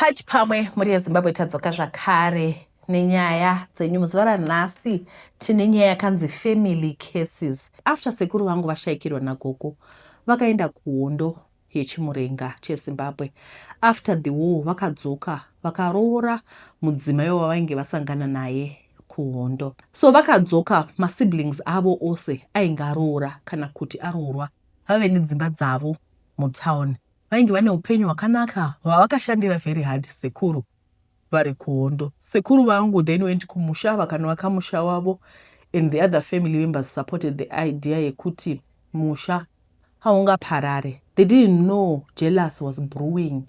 Pachi pamwe mhuri yezimbabwe tadzoka zvakare nenyaya dzenyu muzuva ranhasi tine nyaya yakanzi family cases after sekuru vangu vashaikirwa nagogo vakaenda kuhondo yechimurenga chezimbabwe after the war vakadzoka vakaroora mudzimai wavainge vasangana naye kuhondo so vakadzoka masiblings avo ose ainge aroora kana kuti aroorwa vave nedzimba dzavo mutown vainge vane upenyu hwakanaka hwavakashandira very hard sekuru vari kuhondo sekuru vangu then went kumusha vakanovaka musha wavo and the other family members supported the idea yekuti musha haungaparare they didn't know jealous was brewing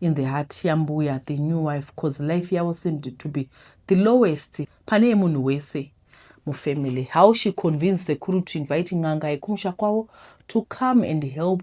in the heart yambuya the new wife bcause life yavo seemed to be the lowest pane yemunhu wese mufamily how she convinced sekuru to invite n'anga yekumusha kwavo to come and help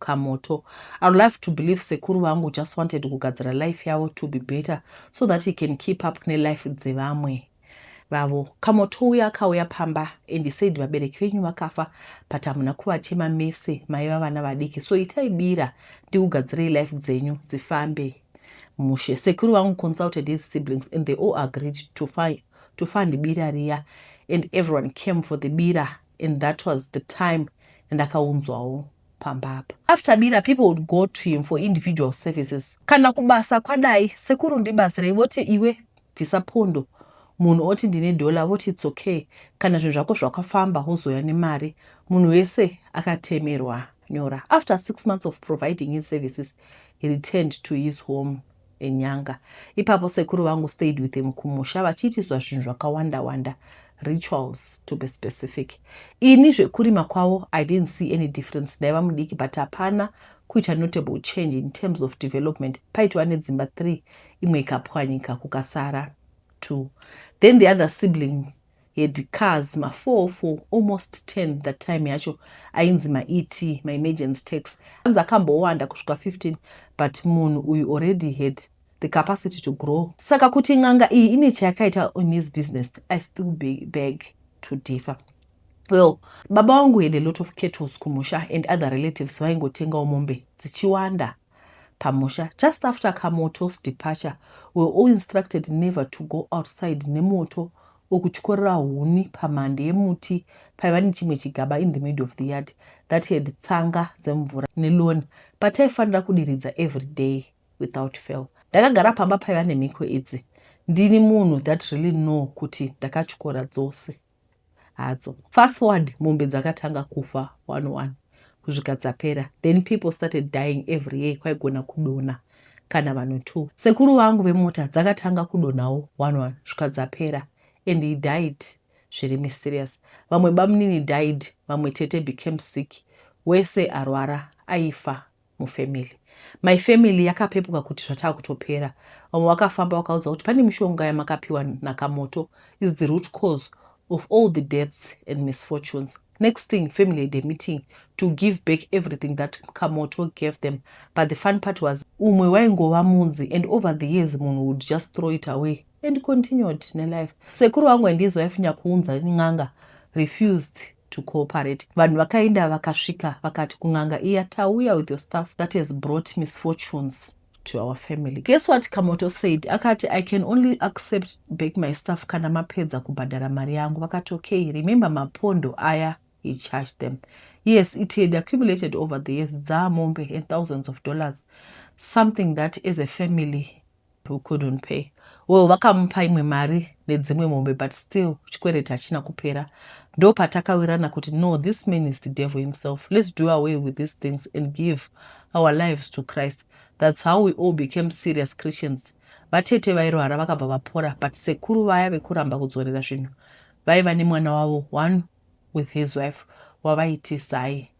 kamoto. I would love to believe sekuru vangu just wanted kugadzira life yavo to be better so that he can keep up ne life dzevamwe vavo. Kamoto uya akauya pamba and he said vabereki venyu vakafa but hamuna kuvachema mese maiva vana vadiki so itai bira ndikugadzirei life dzenyu dzifambe mushe. Sekuru vangu consulted his siblings and they all agreed to fund, to fund bira riya and everyone came for the bira and that was the time and akaunzwawo pamba apa. After bira people would go to him for individual services. Kana kubasa kwadai sekuru ndibatsirei voti iwe bvisa pondo munhu oti ndine dollar voti it's okay kana zvinhu zvako zvakafamba wozouya nemari munhu wese akatemerwa nyora after six months of providing his services he returned to his home enyanga. Ipapo sekuru vangu stayed with him kumusha vachiitiswa zvinhu zvakawanda wanda rituals to be specific. Ini zvekurima kwavo I didn't see any difference ndaiva mudiki but hapana kuita notable change in terms of development paitova nedzimba three imwe ikapwanyika kukasara two then the other siblings had cars ma 4 for almost 10 that time yacho ainzi ma et ma emergency tax anzi akambowanda kusvika 15 but munhu uyu already had the capacity to grow saka kuti n'anga iyi ine chayakaita on his business i still be beg to differ well baba wangu had a lot of kettles kumusha and other relatives vaingotengawo mombe dzichiwanda pamusha just after kamoto's departure were all instructed never to go outside nemoto or kutyorera huni pamhande yemuti paiva nechimwe chigaba in the middle of the yard that had tsanga dzemvura neloni pataifanira kudiridza every day without fail ndakagara pamba paiva nemhiko idzi ndini munhu that really know kuti ndakatyora dzose hadzo fast forward mombe dzakatanga kufa one one kusvika dzapera then people started dying every year kwaigona kudona kana vanhu two sekuru vangu vemota dzakatanga kudonawo one one svika dzapera and he died zviri mysterious vamwe bamunini died vamwe tete became sick wese arwara aifa mufamily my family yakapepuka kuti zvataa kutopera vamwe vakafamba vakaudza kuti pane mishonga yamakapiwa nakamoto is the root cause of all the deaths and misfortunes next thing family had a meeting to give back everything that kamoto gave them but the fun part was umwe waingova munzi and over the years munhu would just throw it away and continued nelife sekuru wangu andizoyafinya kuunza n'anga refused to cooperate vanhu vakaenda vakasvika vakati kun'anga iya tauya with your stuff that has brought misfortunes to our family guess what kamoto said akati i can only accept back my stuff kana mapedza kubhadhara mari yangu vakati okay remember mapondo aya he charged them yes it had accumulated over the years dzaamombe and thousands of dollars something that as a family who couldn't pay well vakamupa imwe mari nedzimwe mombe but still chikwereti hachina kupera ndo patakawirana kuti no this man is the devil himself let's do away with these things and give our lives to christ that's how we all became serious christians vatete vairwara vakabva vapora but sekuru vaya vekuramba kudzorera zvinhu vaiva nemwana wavo one with his wife wavaitisai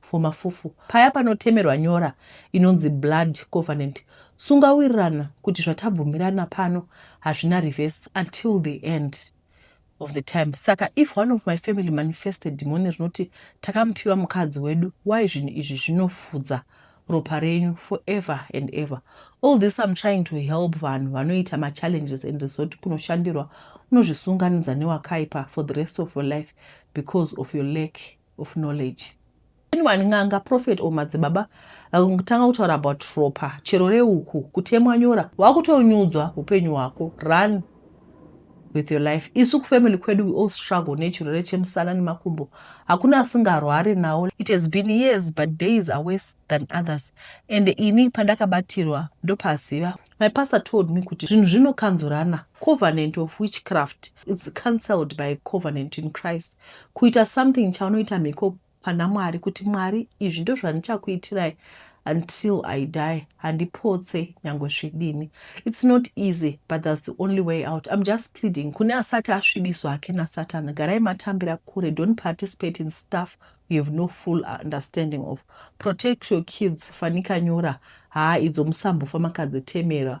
for mafufu paya panotemerwa nyora inonzi blood covenant sungawirirana kuti zvatabvumirana pano hazvina reverse until the end of the time saka if one of my family manifested dhimoni rinoti takamupiwa mukadzi wedu why zvinhu izvi zvinofudza ropa renyu forever and ever all this im trying to help vanhu vanoita machallenges and zoti kunoshandirwa unozvisunganidza newakaipa for the rest of your life because of your lack of knowledge anyone n'anga prophet or madzibaba vakutanga kutaura about ropa chero reuku kutemwa nyora wakutonyudzwa upenyu hwako run with your life isu kufamily kwedu we all struggle nechirwere chemusana nemakumbo hakuna asingarware nawo it has been years but days are worse than others and ini pandakabatirwa ndopaziva my pastor told me kuti zvinhu zvinokanzurana covenant of witchcraft its cancelled by covenant in christ kuita something chaunoita mhiko pana mwari kuti mwari izvi ndozvandichakuitirai until i die handipotse nyangwe zvidini its not easy but thats the only way out im just pleading kune asati asvibiswa hake nasatana garai matambira kure don't participate in stuff you have no full understanding of protect your kids fanika nyora haa idzo musambofa makadzitemera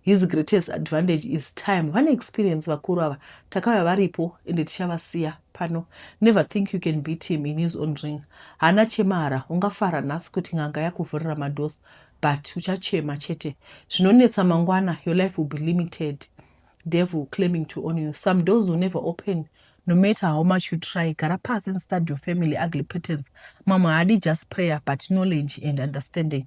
His greatest advantage is time. Vane experience vakuru ava. Takauya varipo ende tichavasiya pano. Never think you can beat him in his own ring. Haana chemara. Ungafara nhasi kuti n'anga yakuvhurira madoors but uchachema chete. Zvinonetsa mangwana your life will be limited. Devil claiming to own you. Some doors will never open. No matter how much you try, gara pasi and study your family ugly patterns. Mamwe haadi just prayer but knowledge and understanding.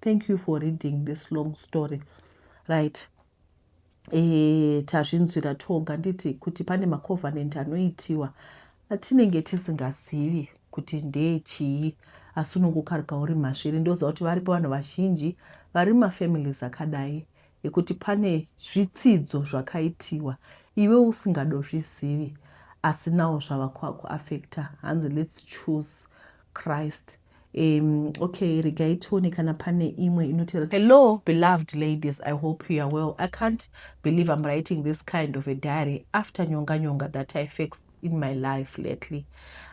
Thank you for reading this long story right e, tazvinzwira toga nditi kuti pane macovenant anoitiwa atinenge tisingazivi kuti ndee chii asi unongokarika uri masviri ndoziva kuti varipo vanhu vazhinji vari mafamilies akadai ekuti pane zvitsidzo zvakaitiwa iwe usingadozvizivi asi nawo zvava kwakuaffecta hanzi lets choose christ Um, okay regai tione kana pane imwe inotera hello beloved ladies i hope you are well i can't believe i'm writing this kind of a diary after nyonga nyonga that i fixed in my life lately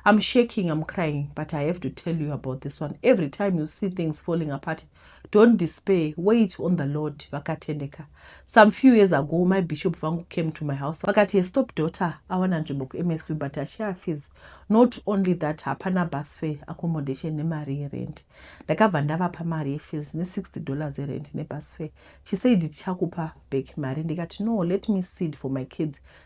i'm shaking i'm crying but i have to tell you about this one every time you see things falling apart Don't despair, wait on the Lord, vakatendeka. Some few years ago, my bishop vangu came to my house. Vakati, yes, stop daughter, awana nzvimbo kuMSV, but achaya fees. Not only that, hapana bus fare, accommodation nemari yerent. Ndakabva ndavapa mari yefees ne60 dollars yerent nebus fare. She said, tichakupa back mari. Ndikati, no, let me seed for my kids.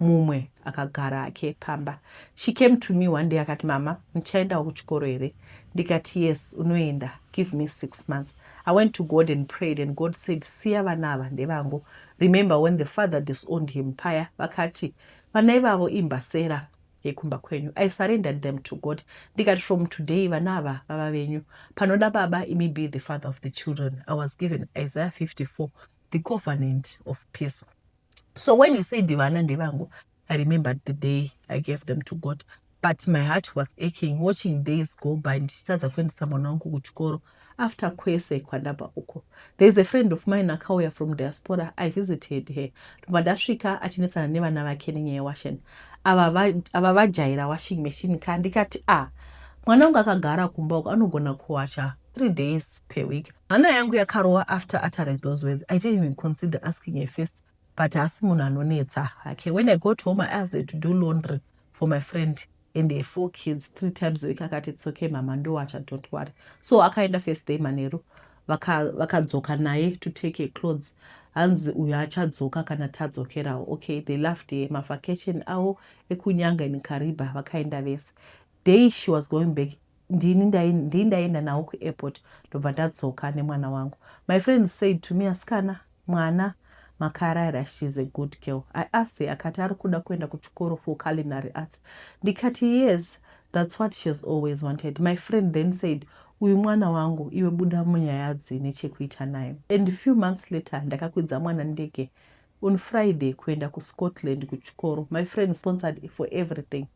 Mumwe akagara hake pamba. She came to me one day akati mama ndichaendawo kuchikoro here ndikati yes unoenda give me six months. I went to God and prayed and God said siya vana ava ndevangu. Remember when the father disowned him paya vakati vana ivavo imbasera yekumba kwenyu. I surrendered them to God ndikati from today vana ava vava venyu. Panoda baba imi be the father of the children. I was given Isaiah 54 the covenant of peace. so when he said vana ndevangu i remembered the day i gave them to god but my heart was aching watching days go by ndichitadza kuendesa mwana wangu kuchikoro after kwese kwandabva uko there is a friend of mine akauya from diaspora i visited her ndobva ndasvika achinetsana nevana vake nenyaya yewashen ava vajaira washing machine ka ndikati a ah, mwana wangu akagara kumba uko anogona kuwacha three days per week hana yangu yakarova after uttering those words i didn't even consider asking her first but hasi munhu anonetsa hake when i got home i asked her to do laundry for my friend and her four kids three times a week akati it's okay mama ndowacha don't worry so akaenda first day manheru vakadzoka vaka naye to take her clothes hanzi uyo achadzoka kana tadzokerawo okay they loved her mavacation avo ekunyanga in kariba vakaenda vese day she was going back ndini ndii ndaienda nawo kuairport ndobva ndadzoka nemwana wangu my friend said to me asikana mwana makara here shes a good girl i asked her akati ari kuda kuenda kuchikoro for culinary arts ndikati yes thats what she has always wanted my friend then said uyu mwana wangu iwe buda munyaya dzine chekuita naye and few months later ndakakwidza mwana ndege on Friday kuenda ku Scotland kuchikoro my friend sponsored for everything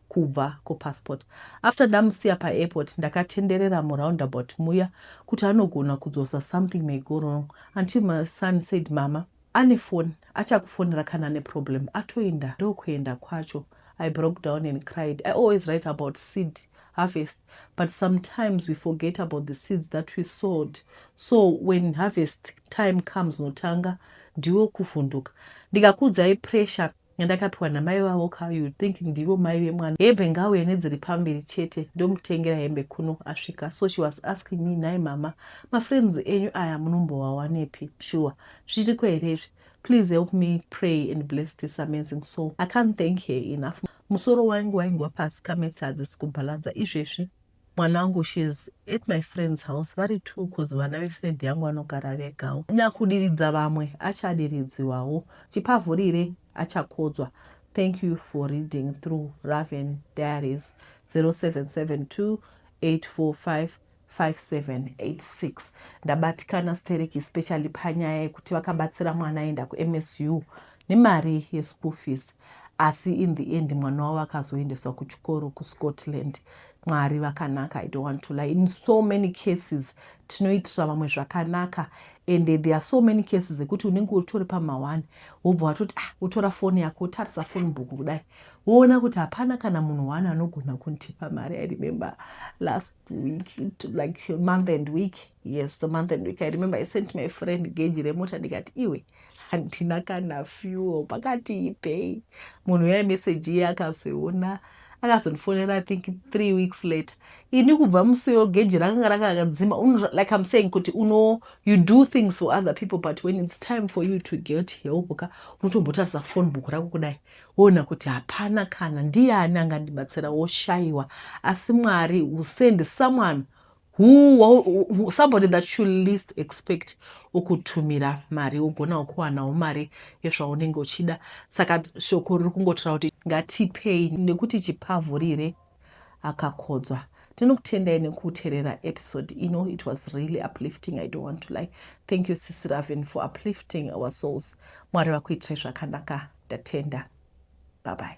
kubva ko passport after ndamusiya pa airport ndakatenderera mu roundabout muya kuti anogona kudzosa something may go wrong until my son said mama ane phone achakufonera kana ane problem atoinda ndokuenda kwacho I broke down and cried. I always write about seed harvest, but sometimes we forget about the seeds that we sowed. So when harvest time comes, notanga ndiwo kuvhunduka. Ndikakudzai pressure yandakapiwa namai vavo ka you think ndivo mai vemwana hembe ngauye nedziri pamberi chete ndomutengera hembe kuno asvika so she was asking me nhai mama mafriends enyu aya munombowawanepi shuwa zviriko here izvi Please help me pray and bless this amazing soul. I can't thank her enough. Musoro wangu waingwa pasi kametse hadzisi kubhalanza izvezvi mwana wangu shes at my friend's house vari two bcause vana vefriend yangu vanogara vegawo nyakudiridza vamwe achadiridziwawo chipavhurire achakodzwa thank you for reading through raven diaries 0772 845 5786 ndabatikana sterek especially panyaya yekuti vakabatsira mwana aenda kumsu nemari yeschool fees asi in the end mwana wavo akazoendeswa kuchikoro kuscotland mwari vakanaka i don't want to lie in so many cases tinoitira vamwe zvakanaka and there are so many cases ekuti unenge utori pamawani wobva watoti ah utora foni yako wotarisa foni book kudai woona kuti hapana kana munhu wani anogona kundipa mari i remember last week to like a month and week yes the month and week i remember i sent my friend geji remota ndikati iwe handina kana fuel pakati ipei munhu uya meseji iye akazoiona akazondifonera i think three weeks later ini kubva musiyo geji rakanga rakakadzima like im saying kuti uno you do things for other people but when its time for you to get help ka unotombotarisa phone book rako kudai Woona kuti hapana kana ndiani angandibatsira woshaiwa asi Mwari will send someone who, somebody that you least expect okutumira mari wogonawo kuwanawo mari yezvaunenge uchida saka shoko riri kungotaura kuti ngatipei nekuti chipavhurire akakodzwa ndinokutendai nekuterera episode ino it was really uplifting i don't want to lie thank you sisi raven for uplifting our souls mwari vakuitirai zvakanaka ndatenda babai